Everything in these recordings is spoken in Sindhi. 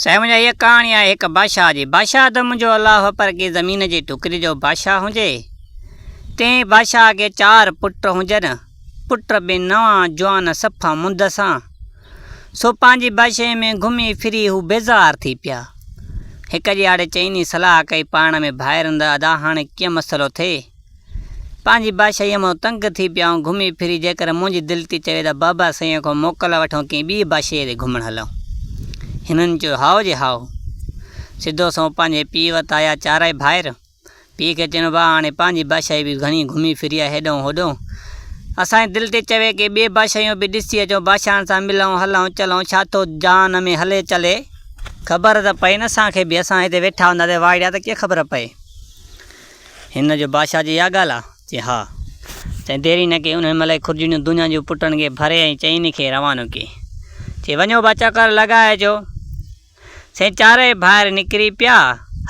سمجهه هيء ڪهاڻي آهي هڪ بادشاهه جي. بادشاهه ته منهنجو الله هو پر ڪنهن زمين جي ٽڪري جو بادشاهه هجي. تنهن بادشاهه کي چار پٽ هجن. پٽ به نوان، جوان، صفا منڌ سان. سو پنهنجي بادشاهيء ۾ گهمي ڦري هو بيزار ٿي پيا. هڪ ڏيهاڙي چئني صلاح ڪئي پاڻ ۾ ڀائرن ته ادا هاڻي ڪيئن مسئلو ٿئي؟ پنهنجي بادشاهيء مان تنگ ٿي پيا آهيون، گهمي ڦري جيڪر منهنجي دل ٿي چوي ته بابا سائينء کان موڪل وٺون ڪنهن ٻيء بادشاهيء ڏي گهمڻ هلون. هنن چيو هائو جي هائو. سڌو سنئون پنهنجي پيء وٽ آيا چارئي ڀائر. پيء کي چيون ڀاء هاڻي پنهنجي بادشاهي به گهڻي گهمي ڦري آهي هيڏانهون هوڏانهون. اسان جي دل ٿي چوي ڪنهن ٻيء بادشاهيون به ڏسي اچون، بادشاهن سان ملون، هلون چلون، ڇا ٿو جهان ۾ هلي چلي. خبر ته پئي نه اسان کي به، اسان هتي ويٺا هونداسين واهڙيا ته ڪيئن خبر پئي. هن جو بادشاهه جي اها ڳالهه آ؟ چي ها. چي ديري نه ڪي انهي مهل ئي خرجينيون دونيان جون پٽن کي ڀري ۽ چئين کي روانو ڪي. چي وڃو با چڪر لڳائي اچو. سائين چارئي ڀائر نڪري پيا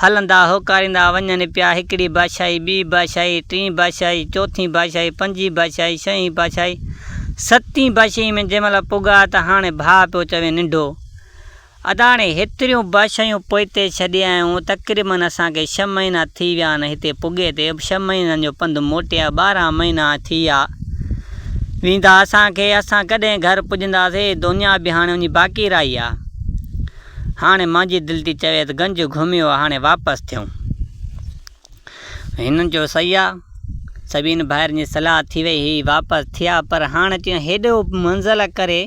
هلندا هوڪاريندا وڃن پيا هڪڙي بادشاهي ٻي بادشاهي ٽين بادشاهي چوٿين بادشاهي پنجين بادشاهي شئين بادشاهي ستين بادشاهي ۾ جنهن مهل پڳا ته هاڻي ڀاء پيو چوين ننڍو اداڻي هيتريون به شيون پوئتي ڇڏيائون، تقريبن اسان کي ڇهه مهينا ٿي ويا آهن هتي پڳي تي، ڇهه مهينن جو پنڌ موٽيا ٻارهن مهينا ٿي ويا ويندا اسان کي، اسان ڪڏهن گهر پڄنداسي، دنيا به هاڻي وڃي باقي رهي آ، هاڻي مانجي دل ٿي چوي ته گنج گهميو آ هاڻي واپس ٿيون. هن چيو سيا، سڀني ڀائرن جي صلاح ٿي وئي هئي، واپس ٿيا، پر هاڻ اچيون هيڏو منزل ڪري،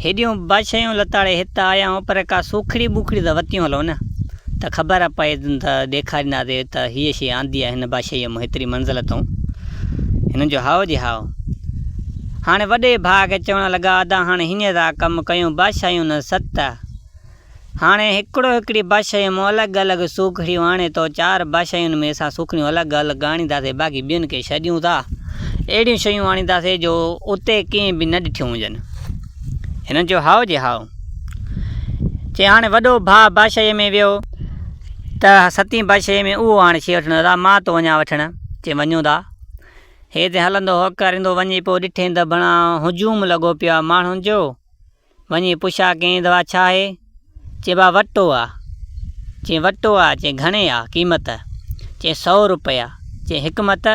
هيڏيون بشيون لتاڙي هت آيا آهيون، پر ڪا سوکڙي ٻوکڙي ته وتيون هلو نه، ته خبر پئي ته ڏيکارينداسي ته هيء شيء آندي آهي هن بشيء مون هيتري منزل اتئون؟ هن چيو هائو جي هائو. هاڻي وڏي ڀاء کي چوڻ لڳا ادا هاڻ هينئر ٿا ڪم ڪيون، بشيون نه ست. هاڻي هڪڙو هڪڙي باشيء مان الڳ الڳ سوکڙيون آڻي تو چار باشين ۾ اسان سوکڙيون الڳ الڳ آڻينداسين باقي ٻين کي ڇڏيون ٿا اهڙيون شيون آڻينداسين جو اتي ڪنهن به نه ڏٺيون هجن. هنن چيو هائو جي هائو. چي هاڻي وڏو ڀاء باشيء ۾ ويو ته ستين باشيء ۾ اهو هاڻي شي وٺڻ ادا مان ٿو وڃان وٺڻ. چي وڃون ٿا. هيت هلندو هوڪاريندو وڃي پيو ڏٺين ته بڻا هجوم لڳو پيو آهي ماڻهن جو. وڃي پڇا ڪين دوا ڇا آهي؟ چئين ڀاء وٽو آ. چئين وٽو آ؟ چئين گهڻي آ قيمت؟ چئين سؤ روپيا. چئين حڪمت؟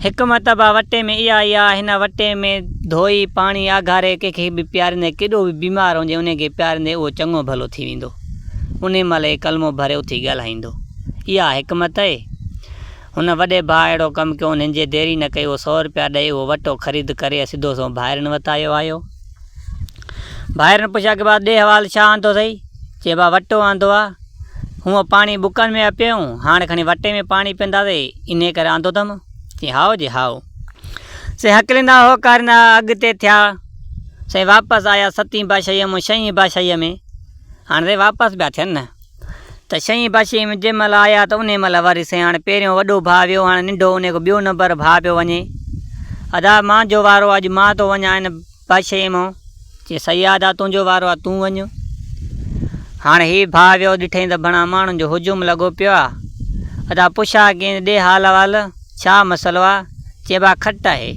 حڪمت ڀاء وٽي ۾ اها ئي آ، هن وٽي ۾ ڌوئي پاڻي آگهاري ڪنهن کي به پياريندين، ڪيڏو به بيمار هجي انهي کي پياريندين اهو چڱو ڀلو ٿي ويندو. انهي مهل هي ڪلمو ڀري اٿي ڳالهائيندو. اها حڪمت اهي؟ هن وڏي ڀاء اهڙو ڪم ڪيو، انهن جي ديري نه ڪئي اهو سؤ روپيا ڏئي اهو وٽو خريد ڪري سڌو سنئون ڀائرن وٽ آيو آهيو. ڀائرن پڇيا ڪي ڀا ڏي حوال ڇا آندو اٿئي؟ چي ڀا وٽو آندو آ، هونء پاڻي بڪن ۾ ها پيئون، هاڻ کڻي وٽي ۾ پاڻي پيئنداسي، انهيء ڪري آندو اٿم. چيائين هائو جي هائو. سي هڪليندا هوڪاريندا اڳتي ٿيا. سائين واپس آيا ستين پاشائيء مون شئين پاشائيء ۾. هاڻ سائين واپس پيا ٿين نه. ته شينهن باشيء ۾ جنهن مهل آيا ته انهيء مهل وري سياڻ پهريون وڏو ڀاء ويو هاڻ ننڍو انهيء کان ٻيو نمبر ڀاء پيو وڃي. ادا مان جو وارو آ اڄ مان ٿو وڃان هن باشيء مان. چي سهي آ ادا تنهنجو وارو آ تون وڃ. هاڻ هي ڀاء ويو ڏٺئين ته ڀڻا ماڻهن جو هجوم لڳو پيو آ. ادا پڇا ڪين ڏي حال احوال ڇا مسئلو آ. چي ڀاء کٽ آهي.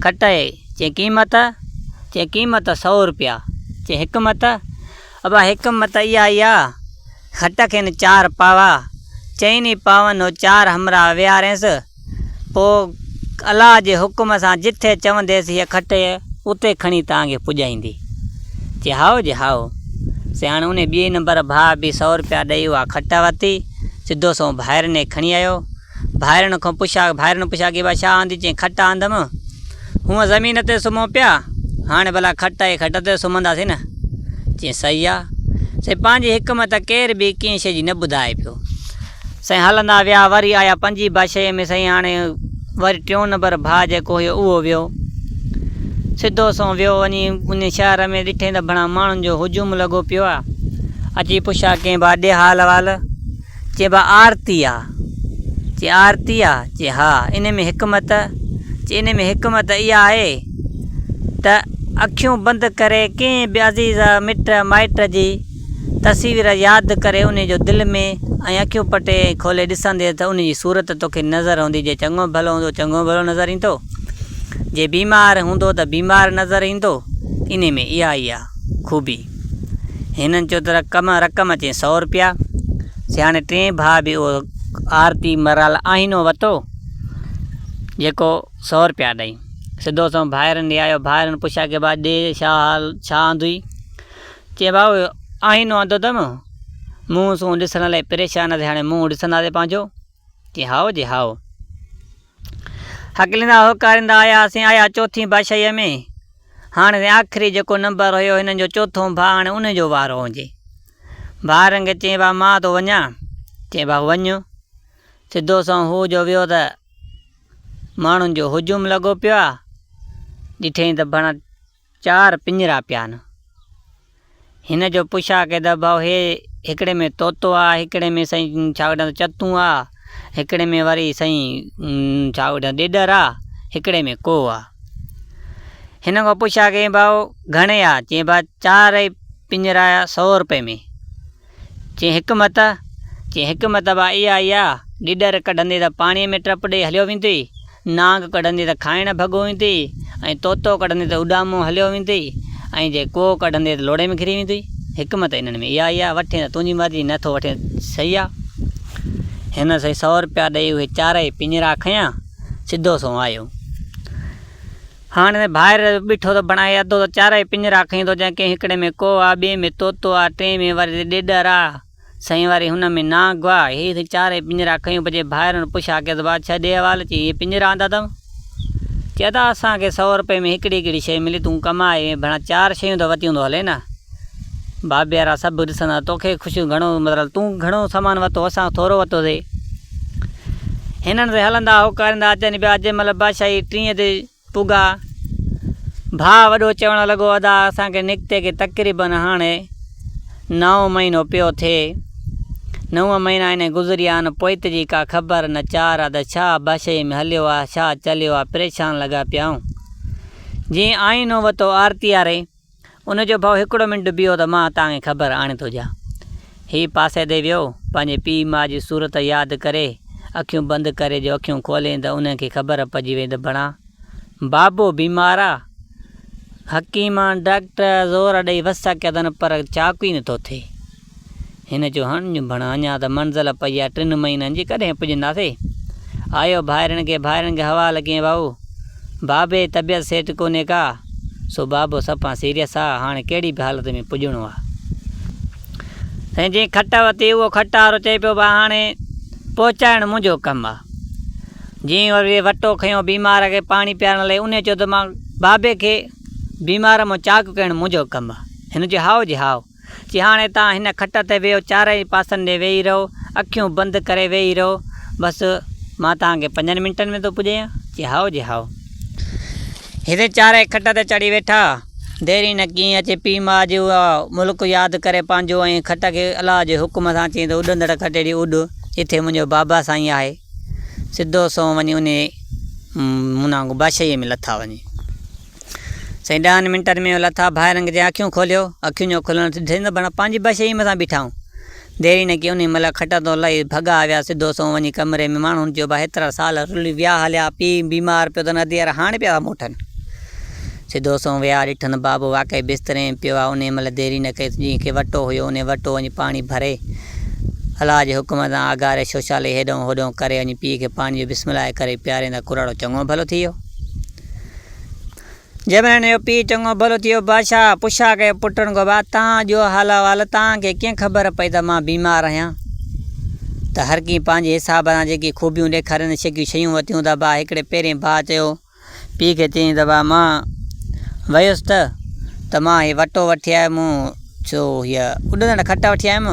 کٽ اهي. چي قيمت؟ چي قيمت سئو روپيا. چي حڪمت؟ ابا هڪ مت اي آئي آ، کٽ کين چار پاوا، چئين ئي پاون هو چار همراهه ويهارينس، پوء الله جي حڪم سان جتي چونديس هيء کٽ اتي کڻي توهان کي پڄائيندي. چي هائو جي هائو. سي هاڻي انهي ٻئي نمبر ڀاء به سؤ روپيا ڏئي اها کٽ ورتي، سڌو سنئون ڀائرني کڻي آيو. ڀائرڻ کون پڇا، ڀائرڻ پڇا ڪي ڀا ڇا آندي؟ چيائين کٽ آندم. هونء زمين تي سمهون پيا، هاڻي ڀلا کٽ آهي، کٽ تي سمهنداسين نه؟ چيائين صحيح آ. سائين پنهنجي حڪمت ڪير به ڪنهن شيء جي نه ٻڌائي پيو. سائين هلندا ويا، وري آيا پنجين باشيء ۾ سائين هاڻي وري ٽيون نمبر ڀاء جيڪو هيو اهو ويو. سڌو سنئون ويو وڃي ان شهر ۾ ڏٺئين ته ڀڻا ماڻهن جو هجوم لڳو پيو آ. اچي پڇا ڪيائين ڀا ڏي حال احوال. چي با آرتي آ. چي آرتي آ؟ چي ها. انهي ۾ حڪمت؟ چي انهي ۾ حڪمت اها آهي ته اکيون بند ڪري ڪنهن به عزيز مٽ مائٽ جي تصوير ياد ڪري انهي جو دل ۾ ۽ اکيون پٽي ۽ کولي ڏسندينء ته انهي جي صورت توکي نظر هوندي جي چڱو ڀلو هوندو چڱو ڀلو نظر ايندو جي بيمار هوندو ته بيمار نظر ايندو انهي ۾ اها ئي آ خوبي. هنن چيو ته رقم رقم اچين سؤ روپيا سياڻي ٽئين ڀاء به اهو آرتي مرال آئينو وتو جيڪو سؤ روپيا ڏئي سڌو سنئون ڀائرن ڏي آيو ڀائرن پڇيا ڪي ڀاء ڏي ڇا حال ڇا آندئي چي ڀاء آئينو آندو اٿم منهن سون ڏسڻ لاء پريشان ٿي هاڻي منهن ڏسنداسين پنهنجو جي هائو جي هائو. هڪليندا هوڪاريندا آياسين آيا چوٿين باشئيء ۾. هاڻ وين آخري جيڪو نمبر هيو هنن جو چوٿون ڀاء هاڻي انهي جو وارو هجي. ڀاء رنگ چين ڀاء مان ٿو وڃان. چين ڀاء وڃ. سڌو سنئون هو جو ويو ته ماڻهن جو هجوم لڳو پيو آ. ڏٺئين ته ڀڻ. چار پڃرا پيا نه. هن جو پڇا ڪي ته ڀائو هي هڪڙي ۾ طوطو آ، هڪڙي ۾ سائين ڇا وٺان چتون آ، هڪڙي ۾ وري سائين ڇا وٺان ڏيڏر آ، هڪڙي ۾ ڪو آ. هن کان پڇا ڪيائين ڀائو گهڻي آ؟ چيائين ڀائي چارئي پڃرا سئو روپئي ۾. چي حڪمت؟ چي حڪمت به اها ئي آ، ڏيڏر ڪڍندي ته پاڻيء ۾ ٽپ ڏئي هليو ويندي، نانگ ڪڍندي ته کائڻ ڀڳو ويندي ۽ طوطو ڪڍندي ته اڏامون هليو ويندي ۽ جي ڪوء ڪڍندي ته لوڙهي ۾ گهري ويندي. حڪمت انهن ۾ اها ئي آ، وٺين ته تنهنجي مرضي، نه ٿو وٺين ته سهي آ. هن سائين سؤ روپيا ڏئي اهي چارئي پڃرا کنيا، سڌو سنئون آيو. هاڻ هن ڀائر ٻيٺو ته بڻائي اڌو ته چارئي پڃرا کئين ٿو جنهن ڪنهن هڪڙي ۾ ڪوئو آ، ٻئي ۾ طوطو آ، ٽئين ۾ وري ڏيڏر آ، سئين وري هن ۾ نانگ آ. هي سائين چارئي پڃرا کئيون پڄي ڀائرن پڇا ڪيس بادشاهه ڏي حوالي چي هي پڃرا آندا اٿم؟ چي ادا اسان کي سئو رپئي ۾ هڪڙي هڪڙي شئي ملي تون ڪماء ۽ ڀڻا چار شئيون ته وتيون ٿو هلين آ. بابيارا سڀ ڏسندا توکي خوشيون گهڻو مطلب تون گهڻو سامان ورتو اسان ٿورو ورتو سي هنن سي هلندا هوڪاريندا اچن پيا جي مل بادشاهي ٽينء تي پگا ڀاء وڏو چوڻ لڳو ادا اسان کي نڪتي کي تقريبا هاڻي نائون مهينو پيو ٿئي نو مهينا انهي گذريا ان پوئت جي ڪا خبر نه چار آ ته ڇا بادشاهي ۾ هليو آ ڇا چليو آ پريشان لڳا پيا آهون جي آئينو ورتو آرتياري ان جو ڀاء هڪڙو منٽ بيهو ته مان توهان کي خبر آڻي ٿو ڏيان. هي پاسي تي ويو، پنهنجي پيء ماء جي صورت ياد ڪري اکيون بند ڪري جو اکيون کولين ته انهن کي خبر پئجي وئي ته بڻا بابو بيمار آ. حڪيمن، ڊاڪٽر زور ڏئي وس ڪيا اٿن پر چاڪو ئي نه ٿو ٿئي. هن چيو، هڻ ڄون ڀڻ، اڃا ته منزل پئي آهي، ٽن مهينن جي، ڪڏهن پڄنداسي؟ آيو ڀائرن کي، ڀائرن کي حوال ڪيئن ڀائو؟ بابي جي طبيعت سيٽ ڪونهي ڪا، سو بابو سڦا سيريس آ، هاڻ ڪهڙي به حالت ۾ پڄڻو آ. سائين جنهن کٽ وتي، اهو کٽ وارو چئي پيو، ڀاء هاڻي پهچائڻ منهنجو ڪم آ. جنهن وري وٽو کنيو بيمار کي پاڻي پيارڻ لاء، انهي چيو ته مان بابي کي بيمار مان چاڪ ڪرڻ منهنجو ڪم آ. هن چيو، هائو جي هائو. چي هاڻي تان هن کٽ تي ويهو چارئي پاسن ڏي ويهي رهو اکيون بند ڪري ويهي رهو بس مان تان کي پنجن منٽن ۾ ٿو پڄايان چي هائو جي هائو هتي چارئي کٽ تي چڙهي ويٺا ديرين نه ڪيئي اچي پيء ماء جو اها ملڪ ياد ڪري پنهنجو ۽ کٽ کي الله جي حڪم سان چيائين ته اڏندڙ کٽيڙي اڏ جتي منهنجو بابا سائين آهي سڌو سنئون وڃي انهي مونانگو بادشاهي ۾ لٿا وڃي. سائين ڏهن منٽن ۾ لٿا ڀائرنگ جي اکيون کوليو اکيون جو کلڻ ڏسين ته بڻ پنهنجي بشي ئي مٿان بيٺا آهون ديري نه ڪئي انهي مهل کٽ تان لهي ڀڳا آويا سڌو سنئون وڃي ڪمري ۾ ماڻهن جو ڀاء هيترا سال رلي ويا هليا پيء بيمار پيو اٿن ادي ار هاڻي پيا ٿا موٽن سڌو سنئون ويا ڏٺن بابو واقعي بستري ۾ پيو آهي انهي مهل ديري نه ڪئي جنهن کي وٽو هيو انهي وٽو وڃي پاڻي ڀري الله جي حڪم سان آگاري شوشالي هيڏانهون هوڏانهون ڪري وڃي پيء کي پاڻي جو بسم الله ڪري پيارين ته ڪراڙو چڱو ڀلو ٿي ويو. جبرائيل جو پيء چڱو ڀلو ٿي ويو. بادشاهه پڇا ڪيو، پٽن گوبا، توهان جو حال احوال، توهان کي ڪيئن خبر پئي ته مان بيمار آهيان؟ ته هر ڪنهن پنهنجي حساب سان جيڪي خوبيون ڏيکاريندي شڪيون شيون وتيون ته با هڪڙي پهرئين ڀاء چيو، پيء کي چيائين ته با مان ويس ته ته مان هي وٽو وٺي آيو مون ڇو هيء اڏندڙ کٽ وٺي آيم؟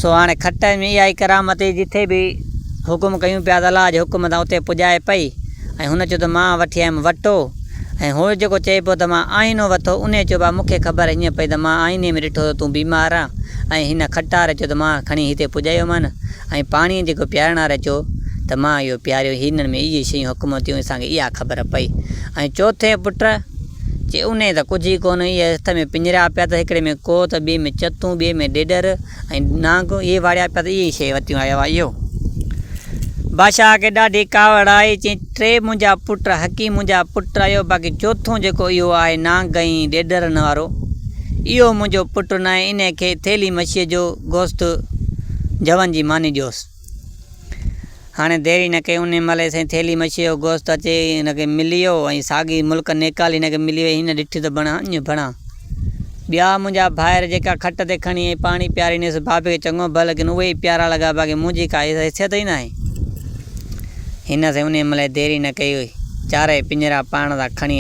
سو هاڻي کٽ ۾ اها ئي ڪرامت هئي، جتي به حڪم ڪيون پيا ته الله جي حڪم سان اتي پڄائي پئي ۽ هن چيو ته مان وٺي آيم وٽو ۽ هو جيڪو چئي پيو ته مان آئينو وٿو، انهيء چيو ڀاء مون کي خبر هينئن پئي ته مان آئيني ۾ ڏٺو ته تون بيمار آن ۽ هن کٽ واري چيو ته مان کڻي هتي پڄايو مان ۽ پاڻيء جيڪو پيارڻ واري چيو ته مان اهو پياريو هينئن ۾ اهي شيون حڪم ٿيون اسان کي اها خبر پئي ۽ چوٿين پٽ چي انهي ته ڪجهه ئي ڪونه، اهي هٿ ۾ پڃريا پيا ته هڪڙي ۾ ڪوهه ته ٻئي ۾ چتون، ٻئي ۾ ڏيڏر ۽ نانگ، اهي واڙيا پيا ته اهي ئي شيء وتيون آيو آهي اهو. بادشاهه کي ڏاڍي ڪاوڙ آئي، چيائين ٽي منهنجا پٽ حقيق منهنجا پٽ آهيو، باقي چوٿون جيڪو اهو آهي نانگ ۽ ڏيڏرن وارو، اهو منهنجو پٽ ناهي، انهي کي ٿيلهي مڇيء جو گوشت جون جي ماني ڏيوس. هاڻي دير ئي نه ڪئي، انهيء مهل ئي سائين ٿيلهي مڇيء جو گوشت اچي هن کي ملي ويو ۽ ساڳي ملڪ نيڪال هن کي ملي وئي. هن ڏٺي ته بڻا اڃ بڻا ٻيا منهنجا ڀائر جيڪا کٽ تي کڻي ۽ پاڻي پيارينيس بابي کي چڱو ڀل ليڪن اهي ئي پيارا لڳا باقي منهنجي ڪا حيثيت ئي ناهي. هن سائين انهيء مهل ئي دير ئي نه ڪئي چارئي پڃرا پاڻ سان کڻي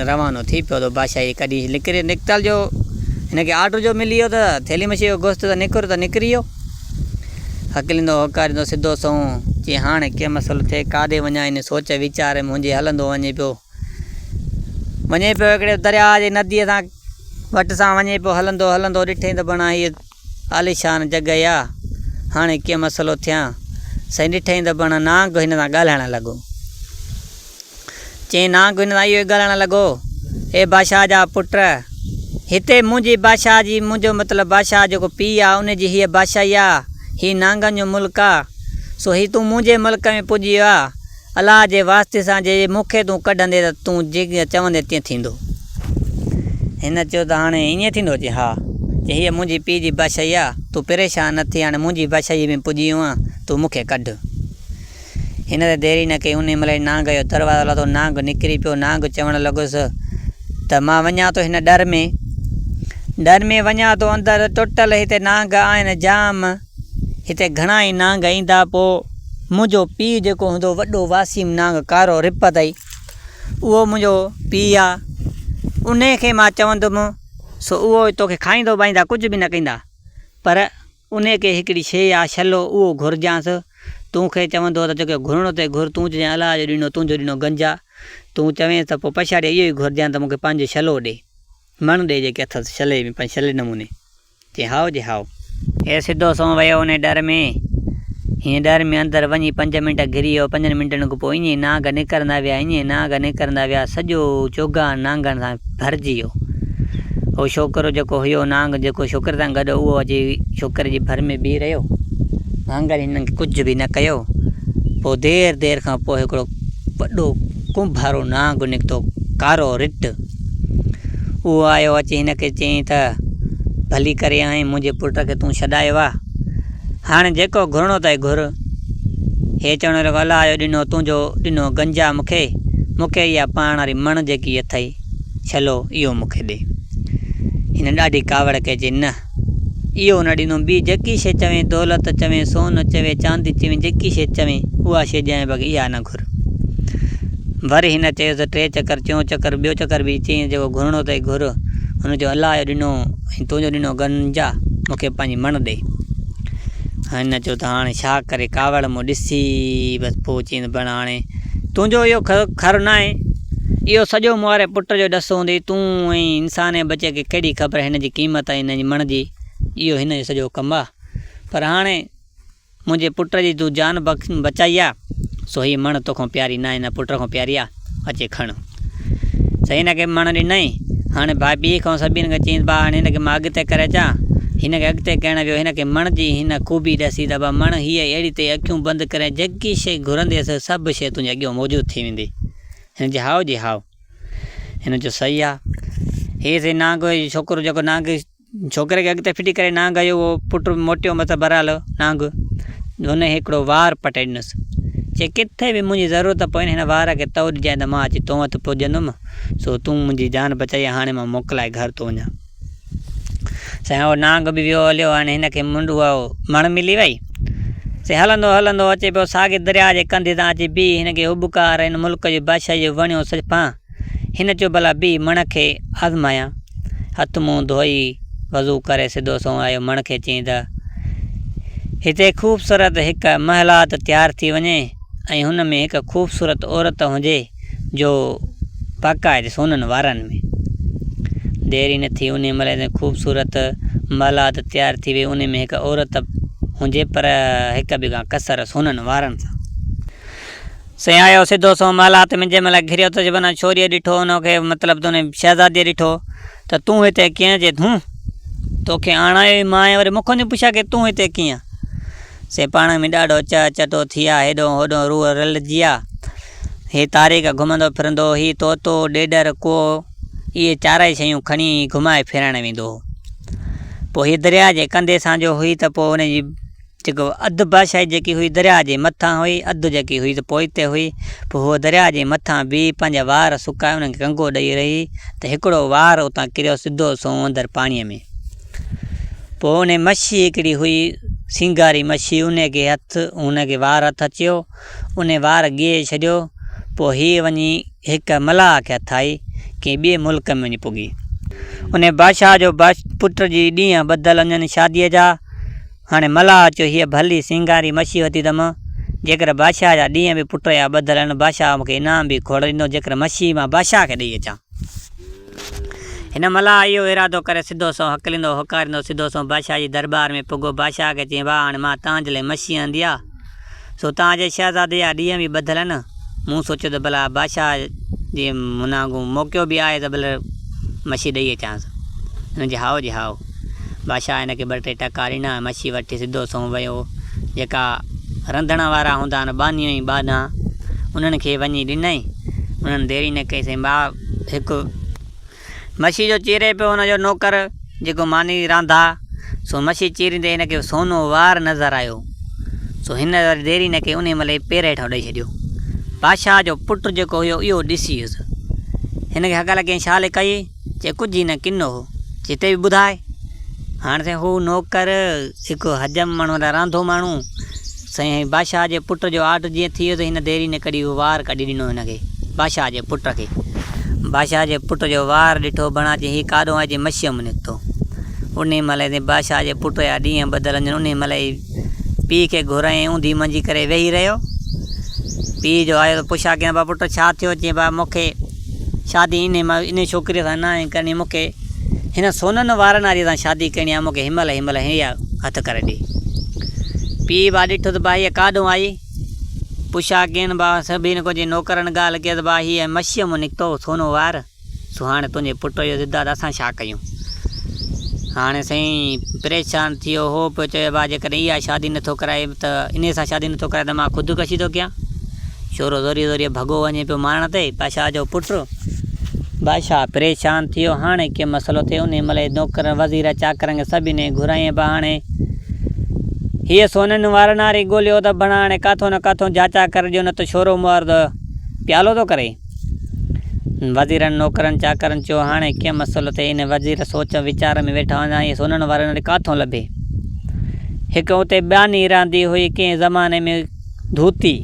۽ روانو ٿي پيو ته بادشاهه جي ڪڏهن نڪتل جو هن کي آرڊر جو ملي ويو ته ٿيلهي مڇيء جو گوشت ته نڪر ته نڪري ويو. هڪليندو هوڪاريندو سڌو سنئون چي هاڻي ڪي مسئلو ٿئي ڪاڏي وڃان ان سوچ ويچار ۾ منهنجي هلندو وڃي پيو وڃي پيو هڪڙي درياء جي نديء سان وٽ سان وڃي پيو هلندو هلندو ڏٺئي ته بڻا هي عاليشان جڳهه آ هاڻي ڪي مسئلو ٿيان سائين ڏٺئي ته بڻا نانگ هن سان ڳالهائڻ لڳو چين آنگ وڃائي اهو ڳالهائڻ لڳو، اي بادشاهه جا پٽ! هتي منهنجي بادشاهه جي، منهنجو مطلب بادشاهه جيڪو پيء آ، ان جي هيء بادشاهي آ، هي نانگن جو ملڪ آ، سو هي تون منهنجي ملڪ ۾ پڄي ويو آهين، الله جي واسطي سان جي مون کي تون ڪڍندين ته تون جيئن چوندين تيئن ٿيندو. هن چيو ته هاڻي ائين ٿيندو؟ چين ها! چين هيء منهنجي پيء جي بادشاهي آ، تون پريشان نه ٿي، هاڻي منهنجي بادشاهيء ۾ پڄي ويو آهين، تون مون کي ڪڍ. هن ته دير ئي نه ڪئي، انهيء مهل ئي نانگ جو دروازو لڌو، نانگ نڪري پيو، نانگ چوڻ لڳس ته مان وڃان ٿو هن ڏر ۾، ڏر ۾ وڃان ٿو، اندر ٽوٽل هتي نانگ آهن جام، هتي گهڻا ئي نانگ ايندا، پوء منهنجو پيء جيڪو هوندو وڏو واسيم نانگ ڪارو رپ اٿئي، اهو منهنجو پيء آ، انهيء کي مان چوندم، سو اهو ئي توکي کائيندا بائيندا ڪجهه به نه ڪيندا، پر. انهيء کي هڪڙي شيء يا شلو اهو گهرجانس. تون کي چوندو ته جيڪو گهرڻو اٿئي گهر، تون چجانء الله جو ڏنو، تنهنجو ڏنو گنجا. تون چوينس ته پوء پڇاڙيء اهو ئي گهرجانء ته مون کي پنهنجو شلو ڏي. مڻ ڏي جيڪي اٿس شلي ۾ پنهنجي شلي نموني. چيائين هائو جي هائو. هي سڌو سنئون ويو انهيء ڏر ۾. هينئن ڏر ۾ اندر وڃي پنج منٽ گهري ويو. پنجن منٽن کان پوء ايئن ئي نانگ نڪرندا ويا، ايئن ئي نانگ نڪرندا ويا. سڄو چوگان نانگن سان ڀرجي ويو. اهو ڇوڪرو جيڪو هيو نانگ جيڪو ڇوڪري سان گڏ هو اهو اچي ڇوڪري جي ڀر ۾ بيهي رهيو. نانگن هنن کي ڪجهه به نه ڪيو. پوء دير دير کان پوء هڪڙو وڏو ڪنڀارو نانگ نڪتو ڪارو رٽ. اهو آيو اچي هن کي چيائين ته ڀلي ڪري آئين منهنجي پٽ کي تون ڇڏايو آ. هاڻي جيڪو گهرڻو اٿئي گهر. هيء چوڻ لڳو، الا اهو ڏنو تنهنجو ڏنو گنجا مون کي، مون کي اها پاڻ واري مڻ جيڪي اٿئي ڇلو، اهو مون کي ڏي. هن ڏاڍي ڪاوڙ ڪئي، چئي، نه! اهو نه ڏيندوم، ٻي جيڪي شيء چوين، دولت چوين، سون چوين، چاندي چوين، جيڪي شيء چوين، اها شيء ڏيانء، بيگي اها نه گهر. چڪر. ور هن چيس ته ٽي چڪر، چئون چڪر، ٻيو چڪر به چئين جيڪو گهرڻو اٿئي گهر. هن چيو الله جو ڏنو ۽ تنهنجو ڏنو گنجا، مون کي پنهنجي مڻ ڏي. هن چيو ته هاڻي ڇا ڪري ڪاوڙ مون ڏسي بس پوء چيائين ته ڀيڻ هاڻي تنهنجو اهو کر ناهي، اهو سڄو مون واري پٽ جو ڏس هوندئي، تون ۽ انساني ٻچي کي ڪهڙي خبر هن جي قيمت ۽ هن جي مڻ جي، اهو هن جو سڄو ڪم آ. پر هاڻي. منهنجي پٽ جي تون جان بچائي آ، سو هيء مڻ توکان پياري ناهي نه پٽ کان پياري آ، اچي کڻ. سي هن کي مڻ ڏنائين. هاڻي ڀائپيء کان سڀني کان چيائينس ڀاء هاڻي هن کي مان اڳتي ڪري اچان. هن کي اڳتي ڪرڻ ويو. هن کي مڻ جي هن خوبي ڏسي ته ڀاء مڻ هيء اهڙي تي اکيون بند ڪرين جيڪي شيء گهرندينء سو سڀ شيء تنهنجي اڳيان موجود ٿي ويندي. هن چيو هائو جي هائو. هن چيو صحيح آ. هيء سي نانگ جو ڇوڪرو جيڪو نانگ ڇوڪري کي اڳتي ڦٽي ڪري نانگ هنيو هو. پٽ موٽيو متان بهرحال نانگ هن کي هڪڙو وار پٽي ڏنس. چي ڪٿي به منهنجي ضرورت پوين هن وار کي تئو ڏجانء ته مان اچي تون وٽ پڄندم سو تون منهنجي جان بچائي ها هاڻي مان موڪلائي گهر ٿو وڃان. سائين اهو نانگ به ويو هليو هاڻي هن کي منڊ اها مڻ ملي وئي. سي هلندو هلندو اچي پيو ساڳي درياء جي ڪنڌي تان اچي بيهي هن کي هٻڪار هن ملڪ جي بادشاهي جو وڻيو سڄ ڦانء هن چيو ڀلا بيهه مڻ کي آزمايان. هٿ منهن ڌوئي وضو ڪري سڌو سنئون آيو مڻ کي چيائين ته هتي خوبصورت هڪ محلات تيار ٿي وڃي ۽ هن ۾ هڪ خوبصورت عورت هجي جو باقاعد سونن وارن ۾. دير ئي نه ٿي انهي مهل اتي خوبصورت محلات تيار ٿي وئي انهي ۾ هڪ عورت هجي پر هڪ به ڪان ڪسر سونن وارن سان. سيايو سڌو سنئون محلات تي منھنجي مھل گھريو ته جبنا ڇوريء ڏٺو ان کي مطلب تون شھزاديء ڏٺو ته تون ھتي ڪيئن جي ھون توکي آڻايو ئي مان ۽ وري مون کان پڇيا ڪي تون ھتي ڪيئن سي پاڻ ۾ ڏاڍو چهه چٽو ٿيا ھيڏون ھوڏون روح رلجيا ھي تاريخ گھمندو ڦرندو ھي طوطو ڏيڏر ڪوئو اھي چارئي شيون کڻي ھي گھمائي ڦيرائڻ ويندو ھو پوء ھي درياء جي ڪنڌي سانجھو ھئي ته پوء ان جي جيڪو اڌ بادشاهي جيڪي هئي درياء جي مٿان هئي اڌ جيڪي هئي ته پوئتي هئي. پوء هوء درياء جي مٿان بيهي پنهنجا وار سڪائي انهن کي ڪنگو ڏئي رهي ته هڪڙو وار اتان ڪريو سڌو سنئون اندر پاڻيء ۾. پوء انهي مڇي هڪڙي هئي سينگاري مڇي انهي کي هٿ هن کي وار هٿ اچيو انهي وار ڳهي ڇڏيو پوء هيء وڃي هڪ ملاح کي هٿ آئي ڪنهن ٻئي ملڪ ۾ وڃي پڳي. انهي بادشاهه جو پٽ جي ڏينهن ٻڌل هجن شاديء جا. هاڻي ملاح اچيو هيء ڀلي سينگاري مڇي وتي ته مان جيڪر بادشاهه جا ڏينهن به پٽ يا ٻڌل آهن بادشاهه مون کي انعام به کوڙ ڏيندو جيڪر مڇي مان بادشاهه کي ڏيئي اچان. هن ملاح اهو ارادو ڪري سڌو سنئون هڪليندو هوڪاريندو سڌو سنئون بادشاهه جي درٻار ۾ پڳو بادشاهه کي چيائين واهه هاڻي مان تهانجي لاء مڇي آندي آهي. سو تان جي شهزادي جا ڏينهن به ٻڌل آهن. مون سوچيو ته ڀلا بادشاهه جي منهانگون موقعو به آهي ته ڀلر مڇي ڏئي اچانس. هن جي هائو جي هائو. بادشاهه هن کي ٻه ٽي ٽڪا ڏنا ۽ مڇي وٺي سڌو سنئون ويو. جيڪا رنڌڻ وارا هوندا آهن، ٻانهي ۽ ٻانها، انهن کي وڃي ڏنائين. انهن ديري نه ڪئي سائين ٻاهه هڪ. مڇي جو چيري پيو هن جو نوڪر، جيڪو ماني رانڌا، سو مڇي چيريندي هن کي سونو وار نظر آيو، سو هن وري ديري نه ڪئي انهي مهل ئي پير هيٺان ڏئي ڇڏيو. بادشاهه جو پٽ جيڪو هيو اهو ڏسي هيس. هن کي هڪ الء ڪئين ڇا لڪائي، چي ڪجهه هي نه ڪنو هو، چي تي به ٻڌاء. هاڻ سائين هو نوڪر. هڪ حجم مڻهن را رانڌو ماڻهو سائين بادشاهه جي پٽ جو آرڊر جيئن ٿي ويو ته هن ديري نه ڪري اهو وار ڪڍي ڏنو هن کي بادشاهه جي پٽ کي بادشاهه جي پٽ جو وار ڏٺو بڻاچي هي ڪاڏو آئي جي مشيء م نڪتو انهي مهل اتي بادشاهه جي پٽ جا ڏينهن ٻڌل هجن انهي مهل ئي پيء کي گهرائين اوندهي منجهي ڪري ويهي رهيو پيء جو آيو ته پڇا ڪيان با پٽ ڇا ٿيو چئين با مون کي شادي انهيء ڇوڪريء سان ناهي ڪرڻي، مون کي هن سونهن وارن واريء سان شادي ڪرڻي آهي، مون کي هينمهل هينمهل هيء هٿ ڪري ڏي. پيء ڀاء ڏٺو ته ڀائيء ڪاڏهون آئي؟ پڇا ڪين ڀاء، سڀني ڪجهه نوڪرن ڳالهه ڪيس ڀاء، هيء مڇيء مان نڪتو سونهون وار، سو هاڻي تنهنجي پٽ جو ضد آهي ته اسان ڇا ڪيون؟ هاڻي سائين پريشان ٿيو هو، پيو چوي ڀاء جيڪڏهن اها شادي نٿو ڪرائي ته انهيء سان شادي نٿو ڪرائي ته مان خودڪشي ٿو ڪيان. شورو زوريء زوريء ڀڳو وڃي پيو مارڻ تي پاشا جو پٽ. بادشاهه پريشان ٿيو، هاڻي ڪي مسئلو ٿئي. انهيء ملئه نوڪرن، وزيرن، چاڪرن کي سڀ انهيء گهرايائين به هاڻي هيء سونهن وارا ناري ڳوليو اٿو ڀڻا هاڻي ڪاٿو نه ڪاٿو جاچا ڪري ڏيو نه ته شورو مئر ته پيالو ٿو ڪري. وزيرن، نوڪرن، چاڪرن چيو، هاڻي ڪي مسئلو ٿئي. انهيء وزير سوچ ويچار ۾ ويٺا هوندا هيء سونهن وارا ناري ڪاٿو لڀي. هڪ اتي ٻانهي رهندي هئي، ڪنهن زماني ۾. ڌوتي،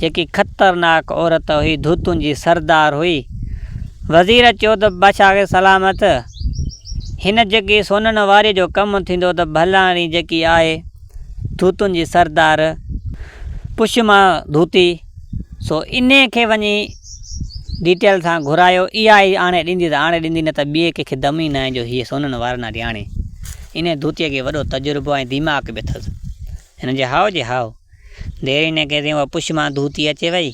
جيڪي خطرناڪ عورت هئي، ڌوتن جي سردار هئي. وزير چيو ته بادشاهه کي سلامت، هن جيڪي سونهن واريء جو ڪم ٿيندو ته ڀلائڻي جيڪي آهي، ڌوتن جي سردار، پڇ مان ڌوتي، سو انهيء کي وڃي ڊيٽيل سان گهرايو، اها ئي آڻي ڏيندي ته آڻي ڏيندي، نه ته ٻئي ڪنهن کي دم ئي ناهي جو هيء سونهن وارن آڏي آڻي. انهيء ڌوتيء کي وڏو تجربو ۽ ديماغ به اٿس. هن جي هاء جي هاء ديريني کي تيئن اها پڇ مان ڌوتي اچي وئي.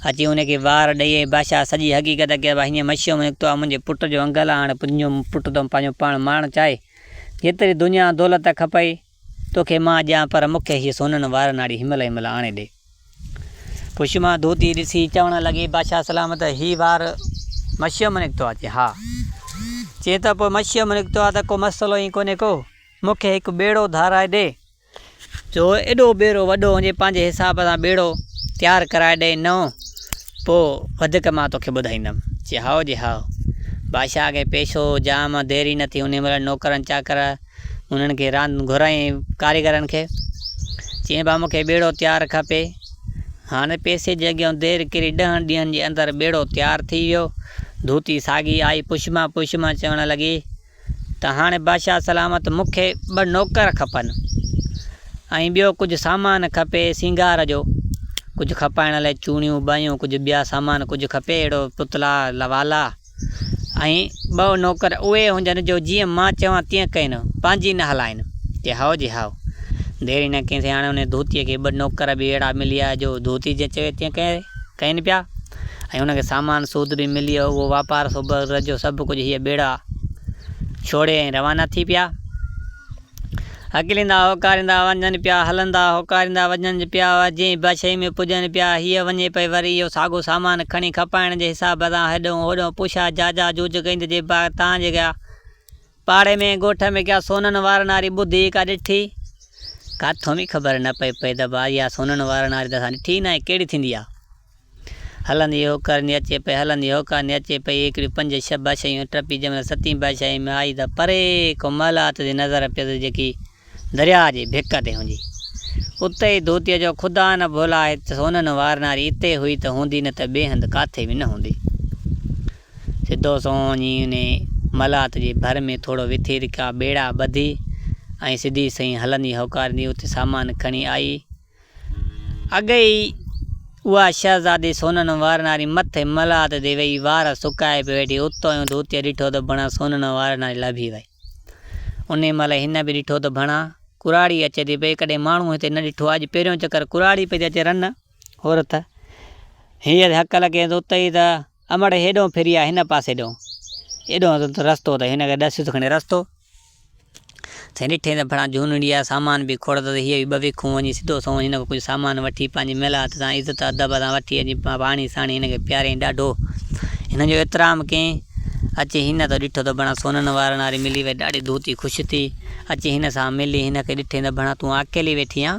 اچي هن کي وار ڏئي ۽ بادشاهه سڄي حقيقت کي اها هينئن مشيء ۾ نڪتو آهي منهنجي پٽ جو انگل آ هاڻي تنهنجو پٽ تو پنهنجو پاڻ مارڻ چاهي جيتري دنيا ۽ دولت کپئي توکي مان ڏيان پر مون کي هيء سونهن وارن هاڙي هن مهل هن مهل آڻي ڏي. پڇ مان ڌوتي ڏسي چوڻ لڳي بادشاهه سلام ته هي وار مشيء مان نڪتو آ؟ چي ها. چي ته پوء مشيء مان نڪتو آ ته ڪو مسئلو ئي ڪونهي ڪو مون کي هڪ ٻيڙو ڌارائي ڏي. جو ايڏو ٻيرو وڏو هونجي پنهنجي حساب سان ٻيڙو تيار ڪرائي ڏئي نئون پو وڌڪ مان توکي ٻڌائيندم. چي هائو جي هائو. بادشاهه کي پيش هو جام ديري نه ٿي انهي مهل نوڪرن چاڪر انهن کي راند گهرائين ڪاريگرن کي. چيائين ڀا مونکي ٻيڙو تيار کپي. هاڻي پيسي جي اڳيان دير ڪري ڏهن ڏينهن جي اندر ٻيڙو تيار ٿي ويو. ڌوتي ساڳي آئي پڇمان پڇمان چوڻ لڳي. ته هاڻي بادشاهه سلامت مون کي ٻه نوڪر کپن ۽ ٻيو ڪجهه سامان کپي سينگار جو، ڪجهه کپائڻ لاء چوڻيون ٻايون، ڪجهه ٻيا سامان، ڪجهه کپي اهڙو پتلا، والا ۽ ٻه نوڪر اهي هجن جو جيئن مان چوان تيئن ڪين، پنهنجي نه هلائين. چي هائو جي هائو. ديري نه ڪيسين، هاڻي انهيء ڌوتيء کي ٻه نوڪر به اهڙا مليا جو ڌوتي جيئن چوي تيئن ڪرين پيا. ۽ ان کي سامان سود به مليو، اهو واپار سوڀر جو سڀ ڪجهه هيء ٻيڙا ڇوڙي ۽ روانا ٿي پيا. هڪليندا هوڪاريندا وڃن پيا، هلندا هوڪاريندا وڃن پيا، جنهن به شيء ۾ پڄن پيا، هيء وڃي پئي وري اهو ساڳو سامان کڻي کپائڻ جي حساب سان هيڏهون هوڏهون پوشا جاجا جوجڪيند جي باغ تان جي ڳيا، پاڙي ۾ ڳوٺ ۾ ڪا سونھن وارڻ واري ٻڌي ئي ڪا ڏٺي؟ ڪاٿو به خبر نه پئي پئي ته ڀا اها سونھن وارڻ واري ته اسان ڏٺي ئي ناهي، ڪهڙي ٿيندي آ؟ هلندي هو ڪرندي اچي پئي، هلندي هو ڪرندي اچي پئي، هڪڙيون پنج ڇهه بادشاهيون ٽپي جنهن مهل ستين بادشاهيء ۾ آئي ته پري ڪو محلات جي نظر پيس جيڪي درياء جي ڀيڪ تي هوندي. اتي ئي ڌوتيء جو خدا نه ڀولا آهي ته سونهن وارناري اتي هئي ته هوندي نه ته ٻئي هنڌ ڪاٿي به نه هوندي. سڌو سنئون وڃي انهيء ملاحت جي ڀر ۾ ٿورو وٿي ته ڪا ٻيڙا ٻڌي ۽ سڌي سئي هلندي هوڪاريندي اتي سامان کڻي آئي. اڳ ئي اها شهزادي سونهن وارناري مٿي ملاحت تي ويهي وار سڪائي پئي ويٺي، اتو اهو ڌوتيء ڏٺو ته بڻان سونهن وارناري لڀي وئي. انهيء مهل هن به ڏٺو ته ڀڻا، ڪراڙي اچي ٿي پئي. ڪڏهن ماڻهو هتي نه ڏٺو آهي. اڄ پهريون چڪر ڪراڙي پئي ٿي اچي. رن! هورٿ! هيء ته هڪ لڳين ٿو اتي ئي ته امڙ هيڏهون ڦري آ هن پاسي ڏئون. ايڏو ته رستو اٿئي. هن کي ڏسيس کڻي رستو. سائين ڏٺئي ته ڀڻا جهونڙي آ، سامان به کوڙ اٿس. هيء به ٻه ويکون وڃي سڌو سنئون هن کان ڪجهه سامان وٺي پنهنجي ملات سان عزت ادب سان وٺي اچي پاڻي ساڻي هن کي پياريائين. ڏاڍو هن جو احترام ڪيائين. اچي هن تون ڏٺو ته ڀڻا سونهن وارن واري ملي وئي ڏاڍي ڌوتي خوش ٿي اچي هن سان ملي هن کي ڏٺين ته ڀڻا تون اڪيلي ويٺي آن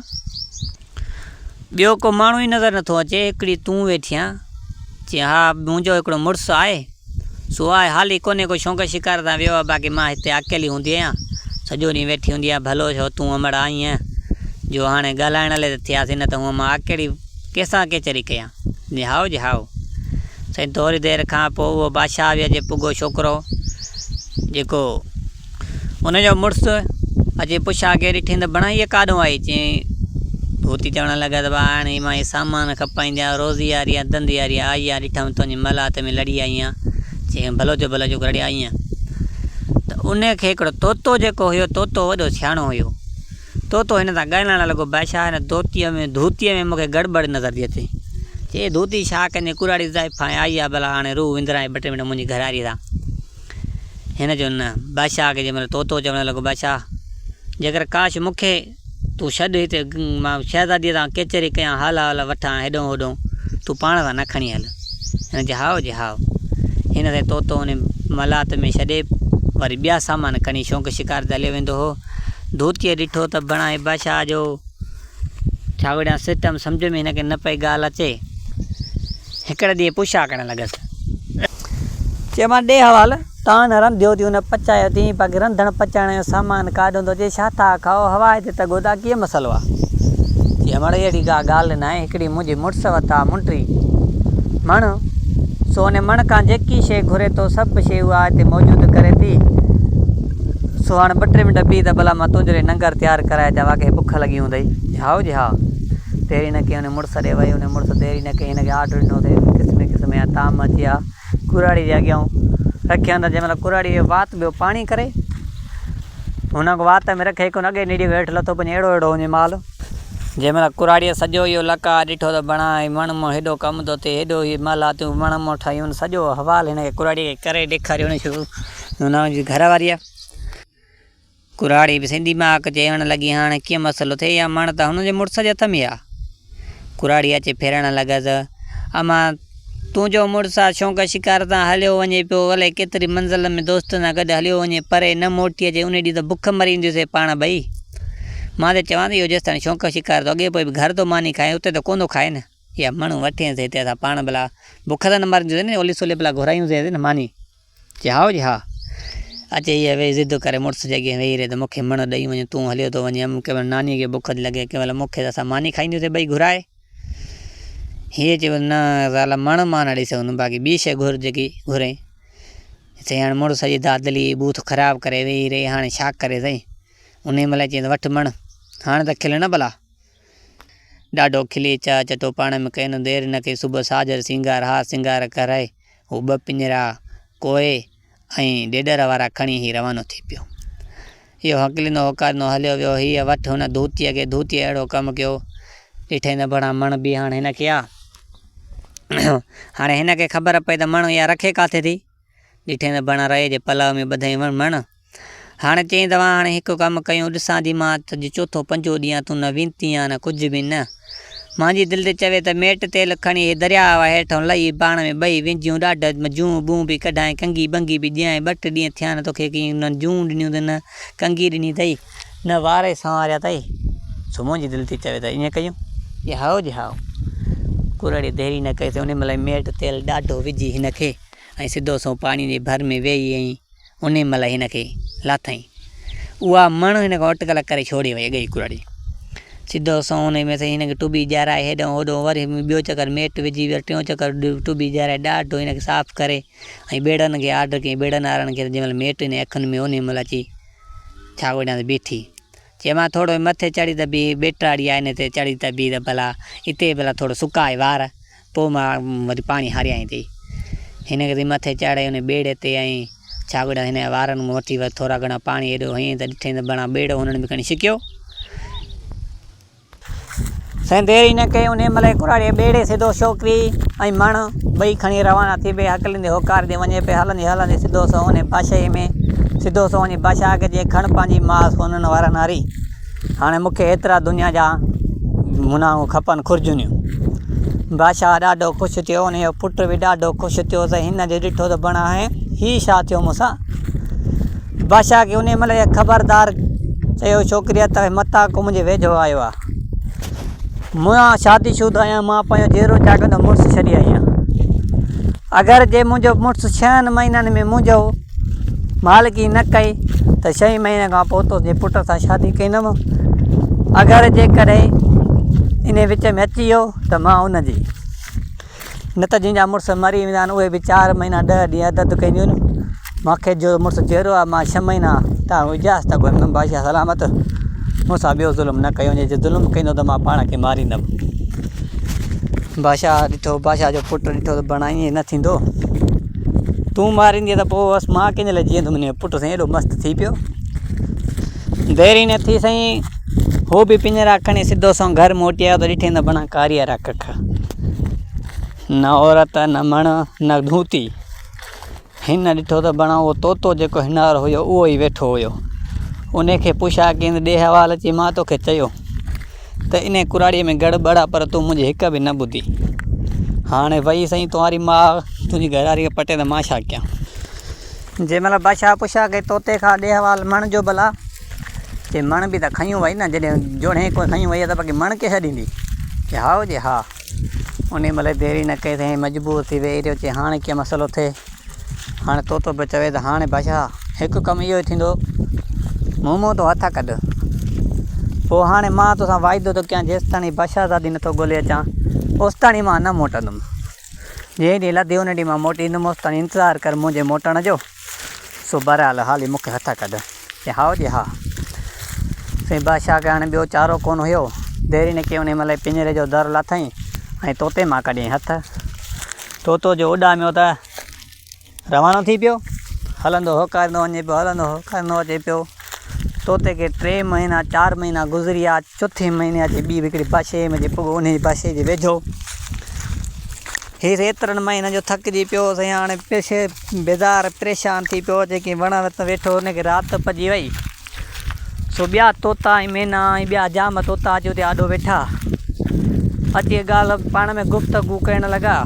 ٻيو ڪو ماڻهو ئي نظر نٿو اچي هڪڙي تون ويٺي آن چي ها منهنجو هڪڙو مڙس آهي سو آء حالي ڪونهي ڪو شونق شڪار تان ويو آهي باقي مان هتي اڪيلي هوندي آهيان سڄو ڏينهن ويٺي هوندي آهيان ڀلو ڇو تون امڙ آئين جو هاڻي ڳالهائڻ لئي ته ٿياسين نه ته هونء مان اڪيلي ڪيسان ڪيچري ڪيان. نهائو جي هائو. سائين ٿوري دير کان پوء اهو بادشاهه ويا جي پڳو ڇوڪرو جيڪو ان جو مڙس اچي پڇ آگي ڏٺين ته بڻا هيء ڪاڏهون آئي؟ چيائين ڀوتي چوڻ لڳا ته ڀاء هاڻي مان هي سامان کپائينديان روزي هاري يا ڌنڌي هاري آئي آهيان ڏٺم تنهنجي ملاحت ۾ لڙي آئي آهيان چيائين ڀلوچ ڀلوچ ڪو لڙي آئي آهيان ته ان کي هڪڙو طوطو جيڪو هيو طوطو وڏو سياڻو هيو. طوطو هن سان ڳالهائڻ لڳو، بادشاهه هن طوطيء ۾ ڌوتيء ۾ مون کي گڙٻڙ نظر ٿي اچي. چي ڌوتي ڇا ڪندين ڪراڙي زائف هانء آئي آ ڀلا هاڻي روح وندرائين ٻه ٽي منٽ منهنجي گهراريء سان. هن چيو نه. بادشاهه کي جنهن مهل طوطو چوڻ لڳو بادشاهه! جيڪر ڪاش مون کي تون ڇڏ هتي مان شهزاديء سان ڪيچري ڪيان حال احوال وٺان هيڏهون هوڏهون تون پاڻ سان نه کڻي هل. هن چيو هائو جي هائو. هن سين طوطو انهي ملاحت ۾ ڇڏي وري ٻيا سامان کڻي شونق شڪار تي هليو ويندو هو. ڌوتيء ڏٺو ته بڻان هبه شاهه جو ڇاوڙيان سٽم سمجهه ۾ هن کي نه پئي ڳالهه اچي. هڪڙي ڏينهن پڇا ڪرڻ لڳس. چيومانس ڏي حوال، تان نرم ڌوتيون نه پچايو اٿيئي، باقي رنڌڻ پچائڻ جو سامان ڪاڏ هوندو اچي، ڇا ٿا کائو، هوا هتي ته گودا ڪيئن مسئلو آ؟ چيم اڙي اهڙي ڪا ڳالهه ناهي، هڪڙي منهنجي مڙس وٽ آ منٽري مڻ، سو ان مڻ کان جيڪي شيء گهري ٿو، سڀ شيء اها هتي موجود ڪري ٿي. سو هاڻ ٻه ٽي منٽ بيهه ته ڀلا مان تنهنجو لئي ننگر تيار ڪرائي اچان واقعي بک لڳي هوندئي هائو جي ها ديري نه ڪيئي ان مڙس ڏي وئي ان مڙس ديري نه ڪيئي هن کي آرڊر ڏنو اٿئي قسمي قسمي جا طعام اچي ويا ڪراڙي جي اڳيان رکيا هوندا جنهن مهل ڪراڙي جو وات ٻيو پاڻي ڪري هن کي وات ۾ رکي ڪونه اڳئي نيڙي هيٺ لٿو پڃي اهڙو اهڙو هوندي مال جنهن مهل ڪراڙيء سڄو اهو لقاء ڏٺو ته بڻائي وڻ مون هيڏو ڪم ٿو ٿئي هيڏو هي مالاتيون وڻ مون ٺاهيون سڄو حوال هن کي ڪراڙيء کي ڪري ڏيکاريو هن شروع نونهن جي گهر واريء ڪراڙي به سندي مهاڪ چيڻ لڳي، هاڻ ڪيئن مسئلو ٿئي، يا مڻ ته هن جي مڙس جي هٿ ۾ آ. ڪراڙي اچي ڦرڻ لڳس، اما! تنهنجو مڙس آ شونق شڪار تان هليو وڃي پيو، الائي ڪيتري منزل ۾ دوستن سان گڏ هليو وڃي، پري نه موٽي اچي، انهي ڏينهن ته بک مرينديونسين پاڻ ٻئي. مان ته چوان ٿي، اهو جيستائين شونق شڪار ٿو اڳي پوء به گهر ٿو ماني کائي، اتي ته ڪونه ٿو کائي نه. اها مڻ وٺينس هتي اسان پاڻ ڀلا بک ته نه مرنديونسين، اولي سولي ڀلا گهرايونسينس نه ماني. چي هائو جي ها. اچي هيء ويهي ضد ڪري مڙس جي اڳيان ويهي رهي ته مون کي مڻ ڏئي وڃ، تون هليو ٿو وڃين. ام، ڪنهن مهل نانيء کي بک ٿي لڳي، ڪنهن مهل مون کي ته اسان ماني کائينديونسين ٻئي گهرائي. هيء چيو نه زال مڻ مان نه ڏئي سگهندم، باقي ٻي شيء گهر جيڪي گهرين. چيائين هاڻي مڙس سڄي دادلي جي بوٿ خراب ڪري ويهي رهي، هاڻي ڇا ڪري سائين. انهيء مهل چيائين ته وٺ مڻ، هاڻي ته کل نه ڀلا. ڏاڍو کلي چاء چٽو پاڻ ۾ ڪئي نه دير نه ڪئي صبح ساجهر سينگار هار سينگار ڪرائي. هو ٻه پڃرا، ڪوئي ۽ ڏيڏر وارا کڻي هي روانو ٿي پيو. اهو هڪليندو هوڪاريندو هليو ويو. هيء وٺ هن ڌوتيء کي، ڌوتيء اهڙو ڪم ڪيو. ڏٺئي نه ڀڻا مڻ به هاڻ هن کي آ. هاڻي هن کي خبر پئي ته مڻ اها رکي ڪاٿي ٿي. ڏٺئي نه ڀڻا رئي جي پلئه ۾ ٻڌئي مڻ. هاڻي چيائين، توهان هاڻي هڪ ڪم ڪيو، ڏسان ٿي مان ته اڄ چوٿون پنجون ڏينهن آهي، تون نه وينتين آهين نه ڪجهه به نه. مانجي دل ٿي چوي ته ميٽ تيل کڻي هي درياء هيٺون لهي پاڻ ۾ ٻئي وينجهون ڏاڍ ۾ جون ٻون به ڪڍائين ڪنگي ٻنگي به ڏيانء، ٻه ٽي ڏينهن ٿيا آهن توکي ڪنهن نه جون ڏنيون ته نه ڪنگي ڏني اٿئي، نه وار ئي سنواريا اٿئي، سو منهنجي دل ٿي چوي ته ائين ڪيون. جي هائو جي هائو. ڪرڙي ديري نه ڪئي سي انهي مهل ئي ميٽ تيل ڏاڍو وجهي هن کي ۽ سڌو سنئون پاڻي جي ڀر ۾ ويهي ۽. انهيء مهل هن کي لاٿائين. اها مڻ هن کان اٽڪل ڪري ڇوڙي وئي اڳئي ڪرڙي. سڌو سنئون انهيء ۾ سهي هن کي ٽٻي جهرائي هيڏانهن هوڏانهن وري ٻيو چڪر ميٽ وجهي وري ٽيون چڪر ٽٻي جهرائي ڏاڍو هن کي صاف ڪري ۽ ٻيڙن کي آرڊر ڪيائين ٻيڙن وارن کي ته جنهن مهل ميٽ هن جي اکين ۾ انهيء مهل اچي ڇا ڳوٺيان ته بيٺي. چيمانس ٿورڙو مٿي چڙهي ته بيهه، ٻيٽاڙي آهي هن تي چڙهي ته بيهه ته ڀلا اتي ڀلا ٿورڙو سڪاء وار. پوء مان وري پاڻي هاريائين ٿي. هن کي ٿي مٿي چاڙهي ان ٻيڙي تي ۽ ڇاڳڙن هن جي وارن مان وٺي وري ٿورا گهڻا پاڻي هيڏو هنئين ته ڏٺئين ته بڻا ٻيڙو هنن به کڻي ڇڪيو. دير ئي نه ڪئي انهيء مهل ئي ڪراڙيء ٻيڙي سڌو ڇوڪري ۽ مڻ ٻئي کڻي روانا ٿي پئي هڪلندي هوڪار ڏي وڃي پئي هلندي هلندي سڌو سنئون انهيء باشائيء ۾ سڌو سنئون وڃي باشا کي چيائين کڻ پنهنجي ماء سونهن وارن هاري. هاڻي مون کي ايترا دنيا جا مناهون کپن خرجونيون. بادشاهه ڏاڍو خوش ٿيو. انهيء جو پٽ به ڏاڍو خوش ٿيو ته هن جي ڏٺو ته بڻ آهي، هي ڇا ٿيو مون سان؟ بادشاهه کي انهيء مهل اهي خبردار چيو ڇوڪريء ته هي متان ڪو منهنجي ويجهو آيو آهي. مون شادي شده آهيان، مان پنهنجو جيئرو جاڳندو مڙس ڇڏي آئي آهيان. اگر جي منهنجو مڙس ڇهن مهينن ۾ منهنجو مالڪي نه ڪئي ته ڇهين مهيني کان پوء تنهنجي پٽ سان شادي ڪندم. اگر جيڪڏهن انهي وچ ۾ اچي ويو ته مان ان جي. نه ته جن جا مڙس مري ويندا آهن اهي به چار مهينا ڏهه ڏينهن عدت ڪنديون آهن. مان کيس جو مڙس جيئرو آهي مان ڇهه مهينا تائين هجياس ته ڳوٺ ۾ بادشاهه سلامت مون سان ٻيو ظلم نه ڪيو وڃي. جي ظلم ڪندو ته مان پاڻ کي ماريندم. بادشاهه ڏٺو، بادشاهه جو پٽ ڏٺو ته بڻ ائين نه ٿيندو، تون ماريندين ته پوء بس مان ڪنهن جي لاء جيئندس، منهنجو پٽ سائين ايڏو مست ٿي پيو، دير ئي نه ٿي سائين هو به پڃرا کڻي سڌو سنئون گهر موٽي آيو ته ڏٺائين ته بڻان ڪاري وارا ڪک، نه عورت نه مڻ نه ڌوتي. هن ڏٺو ته بڻ اهو طوطو جيڪو هنار هيو اهو ئي ويٺو هيو. انهي کي پڇا ڪينس ڏي حوال اچي مان توکي چيو ته انهي ڪراڙيء ۾ گڙ ٻڙ آ پر تون منهنجي هڪ به نه ٻڌي. هاڻي وئي سائين توهاري ماء تنهنجي گهراري کي پٽي ته مان ڇا ڪيان. جنهن مهل بادشاهه پڇا ڪئي طوطي کان ڏي حوال مڻ جو ڀلا. چي مڻ به ته کنيون وئي نه جڏهن جوڻهي ڪنهن کنيون وئي آ ته باقي مڻ ڪيئن ڇڏيندي. چي هائو جي ها. انهيء ملئي ديري نه ڪئي ته هيء مجبور ٿي ويهي رهيو چي هاڻ ڪيئن مسئلو ٿئي. هاڻي طوطو به چوي ته هاڻي بادشاهه هڪ ڪم اهو ئي ٿيندو، مون منهن تون هٿ ڪڍ. پوء هاڻي مان توسان واعدو ٿو ڪيان جيستائين هي بادشاهه زادي نه ٿو ڳولي اچان، اوستائين مان نه موٽندم. جنهن ڏينهن لڌي ان ڏينهن مان موٽي ايندم، اوستائين انتظار ڪر منهنجي موٽڻ جو. سو بهرحال هالي مون کي هٿ ڪڍ. چيائين، هائو جي ها. سائين بادشاهه کي هاڻي ٻيو چارو ڪونه هيو. ديري نه ڪيائين انهيء مهل ئي پڃري جو در لاٿائين ۽ طوطي مان ڪڍيائين هٿ. طوطو جو اڏاميو ته روانو ٿي پيو. هلندو هوڪاريندو وڃي پيو، هلندو هوڪاريندو اچي پيو. توتي ڪي ٽي مهينا چار مهينا گذريا چوٿين مهيني اچي ٻي هڪڙي باشي ۾ جي پڳو انهي باشي جي ويجهو هيس ايترن مهينن جو ٿڪجي پيو هوس ۽ هاڻي پيشي بيزار پريشان ٿي پيو هوس جيڪي وڻ هٿ ويٺو هن کي رات پڄي وئي سو ٻيا طوطا ۽ مينا ۽ ٻيا جام طوطا اچي اتي آڏو ويٺا اچي ڳالهه پاڻ ۾ گفتگو ڪرڻ لڳا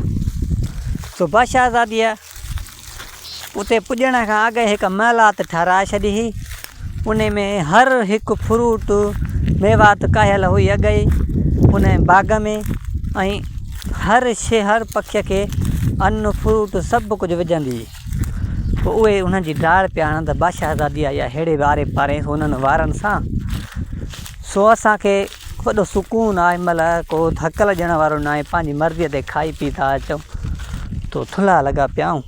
سو بادشاهزاديء اتي پڄڻ کان اڳ هڪ محلات ٺهرائي ڇڏي هئي ان ۾ هر هڪ فروٽ ميوات ڪاهيل هئي اڳ ئي ان باغ ۾ ۽ هر شي هر پکي کي ان فروٽ سڀ ڪجهه وجهندي هئي پوء اهي ان جي ڊار پيا هڻن ته بادشاهزادي آئي آهي ههڙي واري پاري هنن وارن سان سو اسان کي وڏو سڪون آ هن مهل ڪو ٿڪل ڄڻ وارو ناهي پنهنجي مرضي تي کائي پي ٿا اچون تو ٿلها لڳا پيا آهون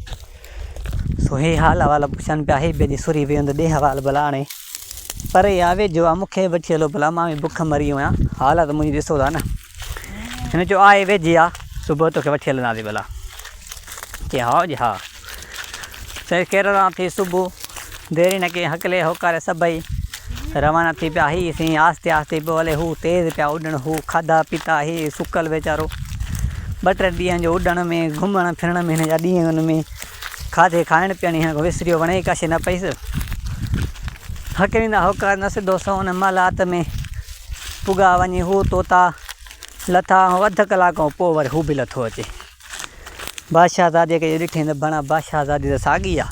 سو هي حال احوال پڇن پيا هي بيلي سوري ويو ته ڏي حوال ڀلا هاڻي پري آ ويجهو آ مون کي وٺي هلو ڀلا مان به بک مري ويو آهيان حالت منهنجي ڏسو ٿا نه هن چيو آهي ويجهي آ صبح توکي وٺي هلنداسين ڀلا چي هائو جي ها سائين ڪيرل ران ٿي صبح ديري نه ڪئي هڪلي هوڪاري سڀئي روانا ٿي پيا هي سائين آهستي آهستي پيو هلي هو تيز پيا اڏڻ هو کاڌا پيتا هي سڪل ويچارو ٻه ٽي ڏينهن جو اڏڻ ۾ گهمڻ ڦرڻ ۾ هن جا ڏينهن ۾ کاڌي کائڻ پيئڻ هن کي وسريو وڻي ڪاشي نه پئيس هڪليندا هوڪار نه سڌو سو ان مالات ۾ پڳا وڃي هو طوطا لٿا هو اڌ ڪلاڪ کان پوء وري هو به لٿو اچي بادشاهه زادي کي ڏٺئين ته بڻا بادشاهه زادي ته ساڳي آ.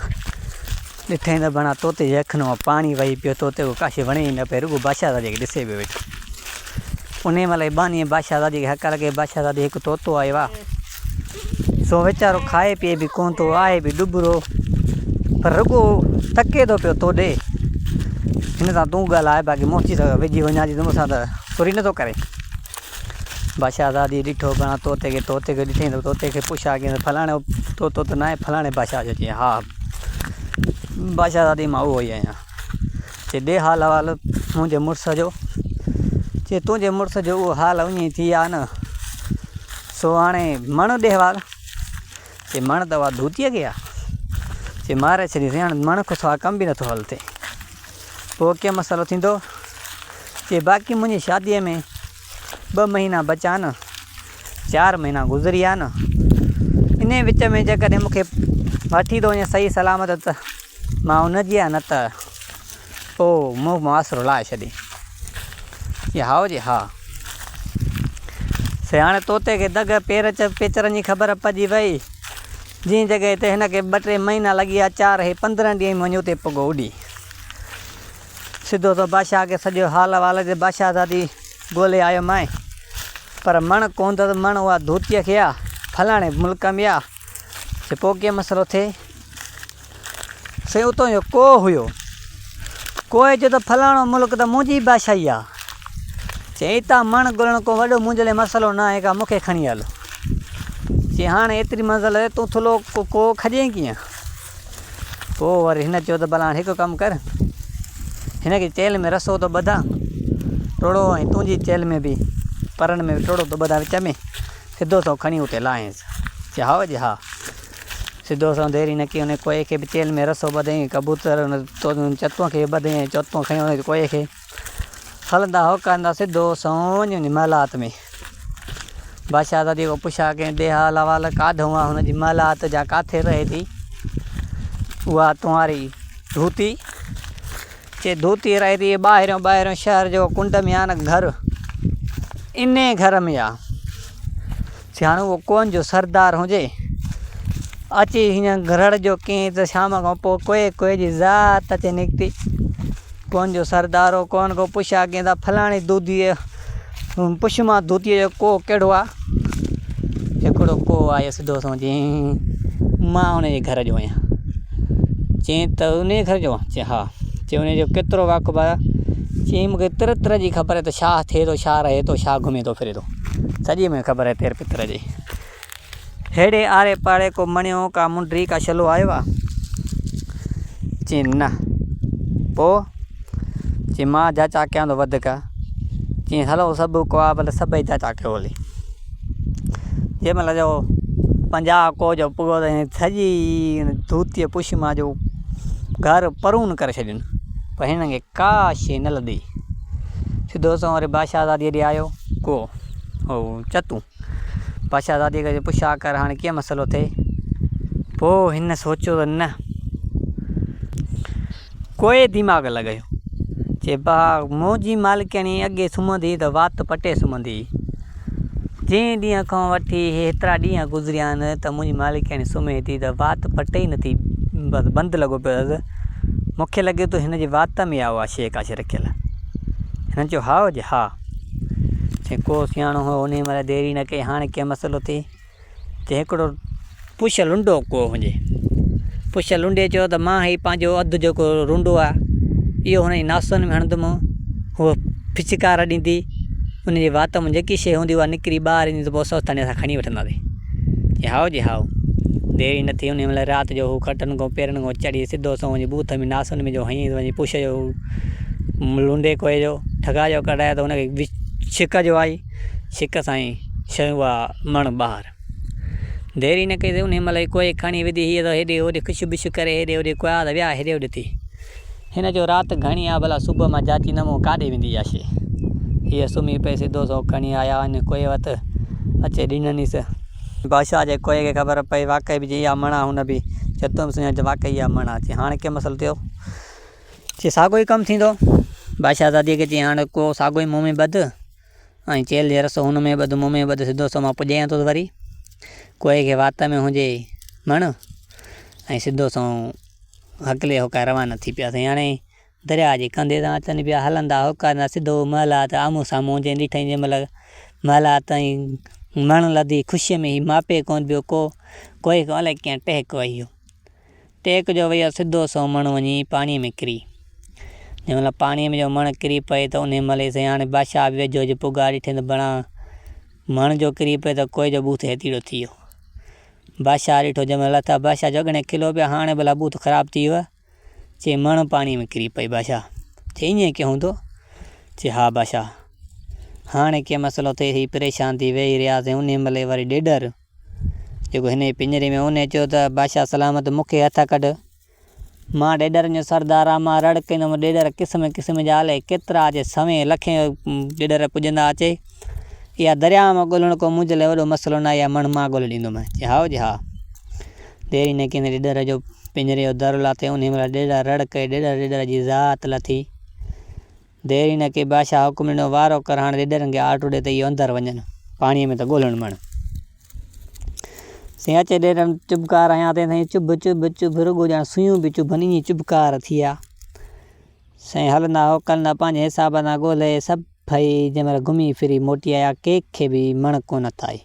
ڏٺئين ته بڻا طوطي جي اکين مان پاڻي وهي پيو. طوطي کي ڪاشي وڻي ئي نه پئي، رڳو بادشاهه زادي کي ڏسي پيو ويٺو. انهيء مهل ئي ٻانهيء بادشاهه زادي کي هڪ لڳي، بادشاهه زادي هڪ طوطو آيو آ. سو ويچارو کائي پيئي به ڪونه ٿو، آهي به ڏٻرو، پر رڳو تڪي ٿو پيو تو ڏي، هن سان تون ڳالهاء، باقي مون چيس ويجهي وڃان ٿي ته مون سان ته سري نه ٿو ڪرين. بادشاهه آزاديء ڏٺو گهڻا طوطي کي، طوطي کي ڏٺئي ته طوطي کي پڇا ڪيائين ته فلاڻو طوطو ته ناهي فلاڻي بادشاهه جو چيائين ها بادشاهه آزادي مان اهو ئي آهيان چي ڏي حال احوال منهنجي مڙس جو چي تنهنجي مڙس جو اهو حال اڃي ٿي آ نه سو هاڻي مڙ ڏي حوال چي مڻ دوا ڌوتيء کي آ، چي ماري ڇڏيسين، هاڻ مڻ کان سواء ڪم به نه ٿو هل ٿئي، پوء ڪيئن مسئلو ٿيندو؟ چي باقي منهنجي شاديء ۾ ٻه مهينا بچا آهن، چار مهينا گذري ويا آهن، انهيء وچ ۾ جيڪڏهن مون کي وٺي ٿو وڃي صحيح سلامت ته مان ان جي آهيان، نه ته. او مون ماس رلائي ڇڏين. جي هائو جي ها. سياڻي طوطي کي دڳ پير چ پيچرن جي خبر پئجي وئي، جنهن جڳهه تي هن کي ٻه ٽي مهينا لڳي ويا، چار هي پندرهن ڏينهن ۾ وڃي اتي پڳو اڏي. سڌو سو بادشاهه کي سڄو حال احوال چي بادشاهزادي ڳولي آيو مانء، پر مڻ ڪونڌس مڻ اها ڌوتيء کي آ، فلاڻي ملڪ ۾ آ، جي پوء ڪيئن مسئلو ٿئي؟ سائين اتو جو ڪوهه هيو. ڪوهي چيو ته فلاڻو ملڪ ته منهنجي بادشاهي آ. چيائين اتان مڻ ڳولڻ ڪو وڏو منهنجي لاء مسئلو ناهي ڪا مون کي کڻي هل. چيائين هاڻي ايتري منزل آهي تون ٿلهو ڪوهه کڄين ڪيئن؟ پوء وري هن چيو ته ڀلا هاڻي هڪ ڪم ڪر هن کي چيلهه ۾ رسو ٿو ٻڌان ٽوڙو ۽ تنهنجي چيلهه ۾ به پرڻ ۾ ٽوڙو ٿو ٻڌان وچ ۾ سڌو ٿو کڻي اتي لاهينس. چيائين هائو جي ها. سڌو سنئون ديري نه ڪيئي انهيء ڪوئي کي به چيلهه ۾ رسو ٻڌئي ڪبوتر ان چتون کي به ٻڌئي ۽ چتون کنيو انهيء ڪوئي کي هلندا هوڪاريندا سڌو سنئون وڃي انهيء محلات ۾ بادشاهه سان جيڪو پڇا ڪيائين ڏي حال احوال ڪاڌئون آ هن جي محلات جا ڪاٿي رهي ٿي اها تنواري ڌوتي چي ڌوتي رهي ٿي ٻاهريون ٻاهريون شهر جو ڪنڊ ميان گهر اني گهر ۾ آ چي هاڻ اهو ڪون جو سردار هجي اچي هيئن گهرڙ جو ڪين ته شام کان پوء ڪوئي ڪوئي جي ذات اچي نڪتي ڪون جو سردار هو ڪون ڪو پڇا ڪين ته فلاڻي دودي پڇ مان ڌوتيء جو ڪوهه ڪهڙو آ؟ هڪڙو ڪوهه آيو سڌو سنئون چيائين، مان ان جي گهر جو آهيان. چيائين ته ان جي گهر جو آن؟ چيائين ها. چيائين ان جو ڪيترو واقف آهيان؟ چيائين مون کي تر تر جي خبر آهي ته ڇا ٿئي ٿو، ڇا رهي ٿو، ڇا گهمي ٿو ڦري ٿو. سڄي مون کي خبر آهي تر تر جي. هيڏي آڙي پاڙي ڪو مڻيو، ڪا منڊري، ڪا شلو آيو آ؟ چين نه. پوء؟ چين مان جا چاڪيان ٿو وڌيڪ. چين هلو سڀ ڪو آ ڀلي سڀئي جا چاڪيو هلي. جنهن مهل جو پنجاهه ڪو جو پڳو ته سڄي ڌوتي پشي مان جو گهر پرون ڪري ڇڏين. پر هنن کي ڪا شيء نه لڌي. سڌو سنئون وري بادشاهزادي ڏي آيو ڪو چتون. بادشاهه زادي کي چيو، پڇ آ ڪر هاڻي ڪيئن مسئلو ٿئي؟ پوء هن سوچيو ته نه ڪوئي ديماغ لڳايو. چي با منهنجي مالڪياڻي اڳي سمهندي ته وات پٽي سمهندي هئي. جنهن ڏينهن کان وٺي هيترا ڏينهن گذريا آهن ته منهنجي مالڪياڻي سمهي ٿي ته وات پٽي ئي نٿي. بس بند لڳو پيو اٿس. مون کي لڳي ٿو هن جي وات ۾ آ اها شيء ڪا شيء رکيل. هن چيو هائو جي ها. ڪو سياڻو هو انهي مهل ديري نه ڪئي هاڻي ڪنهن مسئلو ٿئي ته هڪڙو پڇ لنڊو ڪو هجي پڇ لنڊي چيو ته مان هي پنهنجو اڌ جيڪو رونڊو آ اهو هن جي ناسن ۾ هڻندومون هو ڦڇڪار ڏيندي ان جي وات مان جيڪي شي هوندي اها نڪري ٻاهر ايندي ته پوء اسان اتان کڻي وٺنداسين چي هائو جي هائو ديري نه ٿي انهي مهل رات جو هو کٽن کان پيرن کان چڙهي سڌو سنئون وڃي بوٿ ۾ ناسن ۾ جو هنئي پڇ جو لونڊي ڪوئي جو ٺڳا جو ڪڍايو ته ان کي ڇڪ جو آئي ڇڪ سان ئي شينهن وها مڻ ٻاهر دير ئي نه ڪئي ان مهل ئي ڪوئي کڻي وڌي هيء ته هيڏي هوڏي ڪڇ ٻڇ ڪري هيڏي هوڏي ڪوئا ته ويا هيڏي هوڏي ٿي هن چيو رات گهڻي آ ڀلا صبح مان جاچي نه مون ڪاڏي ويندي اها شيء هيء سمهي پئي سڌو سئو کڻي آيا ان ڪوئي وٽ اچي ڏننيس بادشاهه جي ڪوئي کي خبر پئي واقعي به جي اها مڻ آ هن به چيو تون به سڃاڻ ته واقعي اها مڻ آ چي هاڻ ڪيئن مسئلو ٿيو چي ساڳيو ئي ڪم ٿيندو. بادشاهه زاديء کي چيائين، هاڻ ڪو ساڳيو ئي مون ۾ ٻڌ ۽ چيلهه جي رسو هن ۾ ٻڌ، مون ۾ ٻڌ، سڌو سنئون مان پڄايان ٿو وري. ڪوئي کي وات ۾ هنجي مڻ ۽ سڌو سنئون هڪلي هوڪائي روانا ٿي پيا. سائين هاڻي درياء جي ڪنڌي تان اچن پيا، هلندا هوڪاريندا سڌو محل آت آمهون سامهون جئين ڏٺائين جنهن مهل محل آت ۽ مڻ لڌي خوشيء ۾ هي ماپي ڪونه پيو ڪو، ڪوئي کي الائي ڪيئن ٽهڪ وهي ويو. ٽيڪ جو ويهه سڌو سئو مڻ وڃي پاڻيء ۾ ڪري. جنهن مهل پاڻيء ۾ جو مڻ ڪري پئي ته انهيء مهل ئي سائين هاڻي بادشاهه به ويجهو هجي پگهار ڏٺين ته بڻا مڻ جو ڪري پئي ته ڪوئي جو بوٿ هيتيڙو ٿي ويو. بادشاهه ڏٺو جنهن مهل لٿا بادشاهه جو اڳڻي کلو پيا هاڻي ڀلا بوٿ خراب ٿي ويو چي مڻ پاڻيء ۾ ڪري پئي بادشاهه چي ايئن ڪيئن هوندو چي ها بادشاهه هاڻي ڪي مسئلو ٿئي هي پريشان ٿي ويهي رهياسين انهيء مهل ئي وري ڏيڏر جيڪو هن جي پڃري ۾ اونهي چيو ته، بادشاهه سلامت مون کي هٿ ڪڍ. مان ڏيڏرن جو سردار آ، مان رڙ ڪندم، ڏيڏر قسم قسم جا الائي ڪيترا اچي، سوين لکين ڏيڏر پڄندا اچي. اها درياء مان ڳولڻ ڪو منهنجي لاء وڏو مسئلو ناهي، اها مڻ مان ڳولي ڏيندومانء. چيائين، هائو جي ها. ديري نه ڪندي ڏيڏر جو پڃري جو در لاٿي، اونهي مهل ڏيڏر رڙ ڪئي، ڏيڏر ڏيڏر جي ذات لٿي. دير ئي نه ڪئي، بادشاهه حڪم ڏنو، وارو ڪر هاڻ ريڏرن کي آرڊر ڏي ته اهي اندر وڃن. پاڻيء ۾ ته ڳولڻ مڻ. سين اچي ريڏرن چڀڪار هنيا، تنهن سان چڀ چڀ چڀ، رڳو ڄڻ سوئيون پيون چڀن، ائين چڀڪار ٿيا. سائين هلندا هو ڪلندا، پنهنجي حساب سان ڳولهي سڀئي جنهن مهل گهمي ڦري موٽي آيا، ڪنهن کي به مڻ ڪونه ٿائي.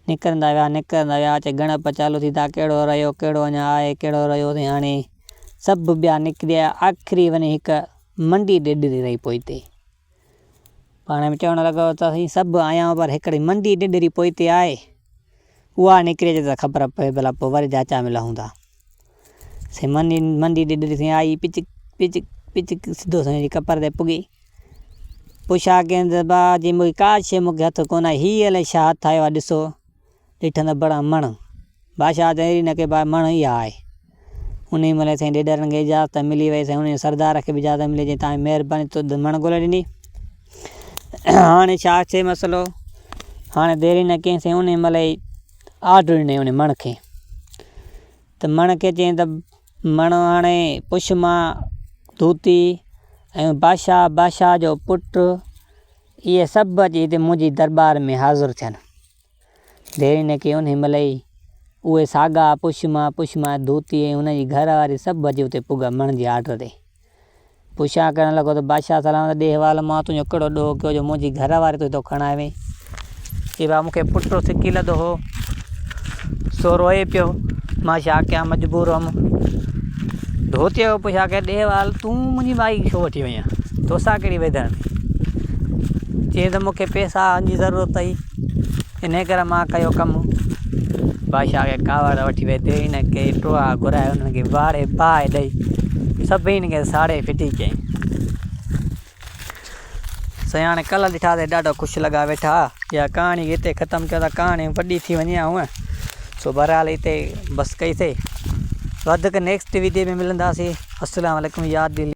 نڪرندا ويا، نڪرندا ويا، اچي ڳڻپ چالو ٿيندا، ڪهڙو رهيو، ڪهڙو اڃا آهي، ڪهڙو رهيو اٿئي هاڻي. سڀ ٻيا نڪري آيا، آخري وڃي هڪ منڊي ڏيڏري رهي پوئتي. پاڻ ۾ چوڻ لڳو ته سائين سڀ آيائون پر هڪڙي منڊي ڏيڏري پوئتي آهي، اها نڪري اچي ته خبر پوي ڀلا پوء وري جاچان ۾ لهون ٿا. سمندي مندي ڏيڏر سين آئي، پچڪ پچڪ پچڪ سڌو سئين جي ڪپر تي پڳي. پڇا ڪين ته با جي مون کي ڪا شيء مون کي هٿ ڪونه آئي، هيء الائي ڇا هٿ آيو آ ڏسو، ڏٺم ته بڙا مڻ. بادشاهه چيائين اڙي نڪي با مڻ اها آهي. انهيء مهل سائين ڏيڏرن کي اجازت ملي ويئي، سائين انهيء سردار کي به اجازت ملي جنهن توهان جي مهرباني توت مڻ ڳولي ڏني. هاڻي ڇا ٿئي مسئلو؟ هاڻي ديري نه ڪيائين سائين انهيء مهل ئي آرڊر ڏنائين انهيء مڻ کي. ته مڻ کي چيائين ته مڻ هاڻي پڇ مان ڌوتي ۽ بادشاهه، بادشاهه جو پٽ اهي سڀ اچي هتي منهنجي درٻار ۾ حاضر ٿين. ديرينء کي انهيء مهل ئي اهي ساڳا پڇ مان، پڇ مان ڌوتي ۽ هن جي گهر واري سڀ اچي اتي پڳا مڻ جي آرڊر تي. پڇا ڪرڻ لڳو ته بادشاهه سلامت ڏي حوالو مان تنهنجو ڪهڙو ڏوهه ڪيو جو منهنجي گهر واري تون هتو کڻائي وئين. چي بابا مون کي پٽ هو سڪي لڌو هو سو روئي پيو مان ڇا ڪيان مجبور هئم. ڌوتيء کان پڇا ڪيائين ڏي حوالو تون منهنجي مائي کي ڇو وٺي وئين توسان ڪهڙي ويڌڻ ٿي. چيائين ته مون کي پئسان جي ضرورت اٿئي. انهيء ڪري مان ڪيو ڪم، بادشاهه کي ڪاوڙ وٺي ويئي، تيڙي نه ڪئي، ٽوئا گهرائي، انهن کي واڙي باهه ڏيئي، سڀني کي ساڙي ڦٽي ڪيائين. سياڻ ڪل ڏٺا تي ڏاڍو خوش لڳا ويٺا. اها ڪهاڻي کي هتي ختم ڪيون ٿا، ڪهاڻي وڏي ٿي وڃي ها هونء، سو بهرحال هتي بس ڪئي سي. وڌيڪ نيڪسٽ ويڊيو ۾ ملنداسين. السلام عليڪم يار دلي.